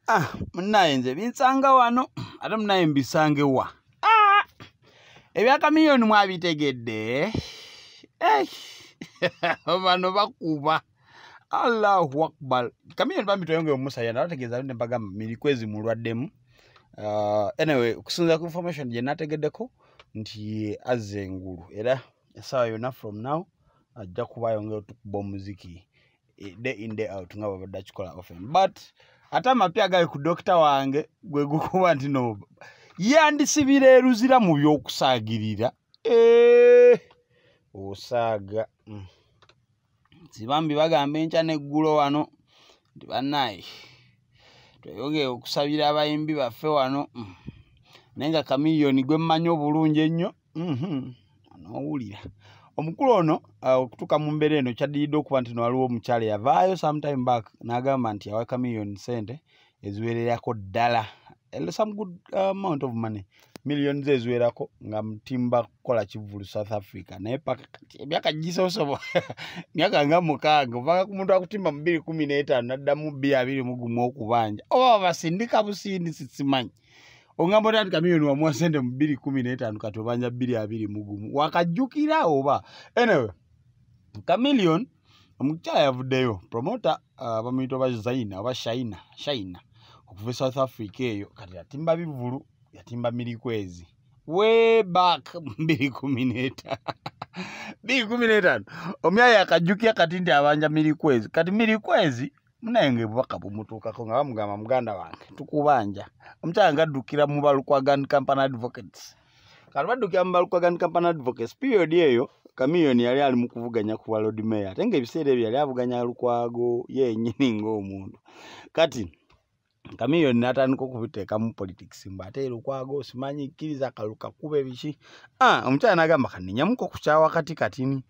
ah munaye nze binsanga wano ate munaye mbisange wa ah! ebyakamiliyoni mwabitegedde eh! bano bakuba allahu akbar kamiliyoni bambi tweyongere omusaya nabategeeza ne bagamba milikwezi mulwaddemu uh, anyway okusinza ku information gye nategeddeko nti azze engulu era essaawa yonna from now ajja kuba ayongera otukuba omuziki eh, day in day out nga babadde akikola often but ate amapya gali ku dokita wange gwe gukuba nti no yandisibira eruzira mu by'okusaagirira eh, osaaga mm. sibambi bagamba enkya n'eggulo wano nti banaye tweyogere okusabira abayimbi baffe wano mm. naye nga kamiliyoni gwe mmanyi obulungi ennyo Mhm. onowulira omukulu ono uh, okutuuka mu mbeera eno kyaddiridde okuba nti no waliwo omukyala eyavaayo sometime back n'agamba nti awa chameleon sente eziwererako ddala eh, some good uh, amount of money million ze eziwerako nga mutimba kukola kivulu south africa naye paka kati emyaka gisosobo myaka nga mukaaga ovanga ku muntu akutimba mu biri kumi n'etaano naddamu bbi abiri mu gumu okubanja oba babasindika busindisi simanyi ongamba oti ati kamiyoni wamuwa sente mu bbiri kumi n'etaano kati obanja bbiri abiri mugumu wakajjukira oba anyway kamiliyoni omukyala yavuddeyo promota uh, bamuyita oba zaina oba shaina shaina okuva e south africa eyo kati yatimba bivulu yatimba mirikwezi way back mbiri kumi neta mbiri kumi netano omyaya akajukya kati nti abanja mirikwezi kati mirikwezi munaye nga ebubaka bumutuukako nga bamugamba muganda wange tukubanja omukyala nga addukira mu balukwagan company advocates kati baddukira mu balukwagan company advocates period eyo kamiyoni yali ali mu kuvuganya ku walod mayor ate nga ebiseera ebyo yali avuganya lukwago yenyini ngaomuntu kati kamiyoni natandika okubiteekamu politics mbu ate lukwago simanyi kkiriza kalukakube ebiki ah, omukyala nagamba kaninyamuko kukyawa kati katini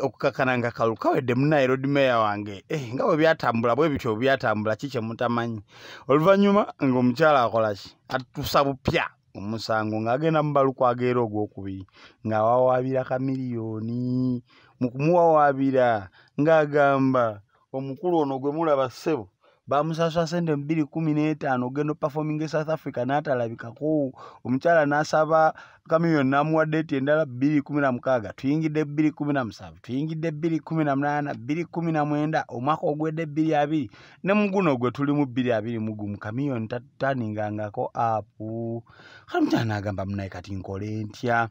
okukakana nga kalukawedde munaye lodi meya wange eh, nga bwe byatambula bwe bityo byatambula ki kyemutamanyi oluvannyuma ngaomukyala akolaki atusa bupya omusango ng'agenda mu balukwago era ogwokubiri ng'awawaabira kamiliyoni mu kumuwawaabira ng'agamba omukulu ono gwe mulaba ssebo bamusasula sente mubiri kumi n'etaano ogenda opafominga e south africa n'atalabikako omukyala n'asaba kamiyoni n'amuwa deeti endala bbiri kumi na mukaaga tuyingidde bbiri kumi na musanvu tuyingidde bbiri kumi na munaana bbiri kumi na mwenda omwaka ogwedde bbiri abiri ne muguno gwe tulimu bbiri abiri mugumu kamiyoni tataningangako apu kale omukyala n'agamba munaye kati nkole ntya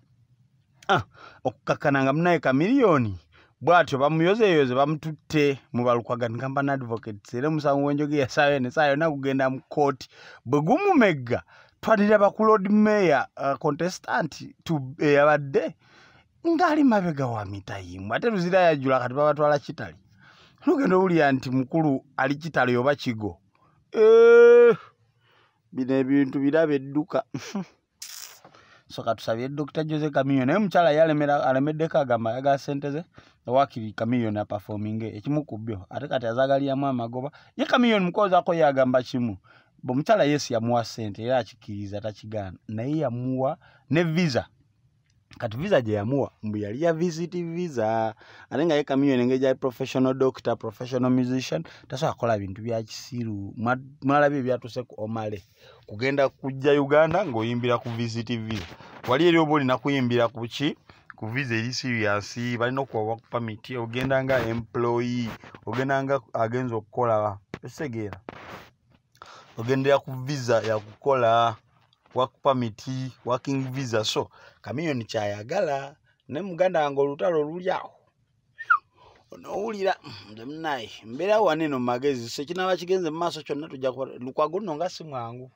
Ah, okukakkana nga munaye kamiliyoni bwatyo bamuyozeyoze bamututte mu balukwagani kampany advocates era omusango gwenjoge yasaayo nesaayo nakugenda mu kooti bwe gumumegga twanira bakulod mayor uh, contestant eyabadde eh, ngaali mabega wa mitayimu ate luzira yajula kati babatwala kitali nogenda owulira nti mukulu ali kitali oba kigo eh, bino ebintu biraba edduka so katusabire dr jose kamiyo naye omukyala yalemera alemeddeko agamba ayagala sente ze wakiri kamiyon apafominge ekimu ku byo ate kati azagaliramu amagoba ye kamiyon mukozako yagamba kimu omukyala yesu yamuwa sente era akikiriza takigaana naye yamuwa ne visa kati visa gye yamuwa mbu yali ya visit visa ate nga ye kamiyoni engeri gyali professional doctor professional musician tasobola kukola bintu bya kisiru mwalabye ebyatuuse ku omale kugenda kujja uganda ng'oyimbira ku visit visa wali eri oba olina kuyimbira ku ki ku visa eri serious balina okuwa work permit ogenda nga employee ogenda nga agenza okukola esegeera ogendera ku visa yakukola work permit working visa so kamiyoni kyayagala ne muganda wange olutalo luli awo onowulira ndemunaye mm, mbeera waneno mumagezi so kinaba kigenze mu maaso kyonna tujja kuba lukwago nno nga si mwangu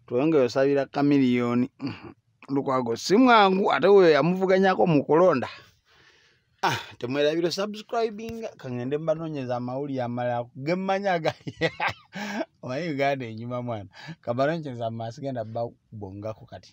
tweyongere osabira kamiliyoni mm, lukwago si mwangu ate weyo yamuvuganyako mu kulonda Ah, temwerabira subscribing kangende mbanonyeza amawulire amalala gemmanya agali omanyi uganda enyuma mwana kambanonyeza mu maaso genda babongako kati